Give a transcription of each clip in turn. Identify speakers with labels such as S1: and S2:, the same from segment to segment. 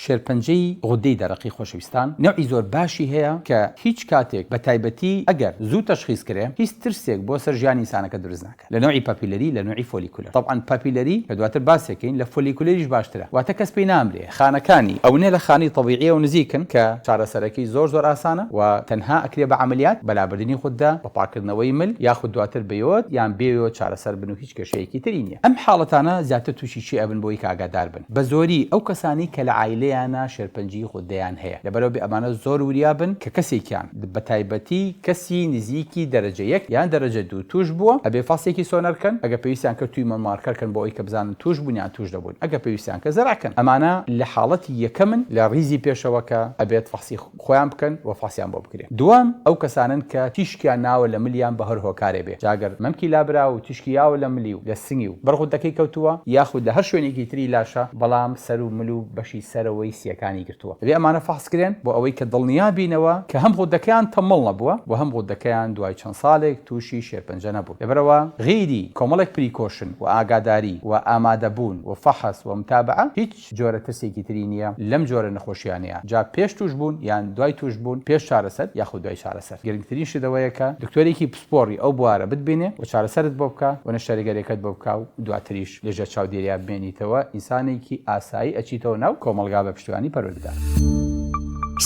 S1: شێرپەنجەی غودەی دەرەقی خۆشەویستان نەوعی زۆر باشی هەیە کە هیچ کاتێک بە تایبەتی ئەگەر زوو تەشخیس کرێ هیچ ترسێک بۆ سەر ژیانی ئینسانەکە دروست ناکات لە نەوعی پاپیلەری لە نەوعی فۆلیکولەر تەبعەن پاپیلەری کە دواتر باسێکەین لە فۆلیکولەریش باشترە واتە کەس پێی نامرێ خانەکانی ئەونە لە خانەی تەبیعیەوە نزیکن کە چارەسەرەکەی زۆر زۆر ئاسانە و تەنها ئەکرێ بە عەمەلیات بە لابردنی غودە بە پاکردنەوەی مل یاخود دواتر بە یۆد یان بێ یۆد چارەسەر بن و هیچ کێشەیەکی تری نیە ئەم حاڵەتانە زیاتر توشی چی ئەبن بۆی کە ئاگادار بن. بە زۆری ئەو کەسانەی کە لە عایلەیانا شێرپەنجەی غوددەیان هەیە لەبەرئەوە بێ ئەمانە زۆر وریا بن کە کەسێکیان بە تایبەتی کەسی نزیکی دەرەجە یەک یان دەرەجە دوو تووش بووە ئەبێ فەسێکی سۆنەر کەن ئەگەر پێویستیان کرد تویمۆر مارکەر کەن بۆ ئەوەی کە بزانن تووش بوون یان تووش دەبوون ئەگەر پێویستیان کرد زەرع کەن ئەمانە لە حاڵەتی یەکەمن لە ڕیزی پێشەوە کە ئەبێت فەسی خۆیان بکەن و فحسیان بۆ بکرێ دووەم ئەو کەسانەن کە تیشکیان ناوە لە ملیان بە هەر هۆکارێ بێ جا گەر مەمکی لابراوە و تیشکی یاوە لە ملی و لە سنگی و بەر غودەکەی کەوتووە یاخود لە هەر شوێنێکی تری لاشە بەڵام سەر و مل و بەشی سەرەوەی سییەکانی گرتووە دەبێ ئەمانە فحس کرێن بۆ ئەوەی کە دڵنیا بینەوە کە هەم غودەکەیان تەممەڵ نەبووە و هەم غودەکەیان دوای چەند سالێک تووشی شێرپەنجە نەبوون لەبەرئەوە غیری کۆمەڵێک پریکۆشن و ئاگاداری و ئامادە بوون و فحس و متابعە هیچ هیچ جۆرە ترسێکی تری نییە لەم جۆرە نەخۆشیانەیە جا پێش توشبوون یان دوای توشبوون پێش چارەسەر یاخود دوای چارەسەر گرنگترین شت ئەوەیە کە دکتۆرێکی پسپۆڕی ئەو بوارە بتبینێ و چارەسەرت بۆ بکا و نەشتەرگەریەکەت بۆ بکا و دواتریش لە ژێر چاودێریا بمێنیتەوە ئینسانێکی ئاسایی ئەچیتەوە ناو کۆمەڵگا بە پشتیوانی پەروەردگار.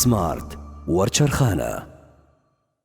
S1: سمارت وەرچەرخانە.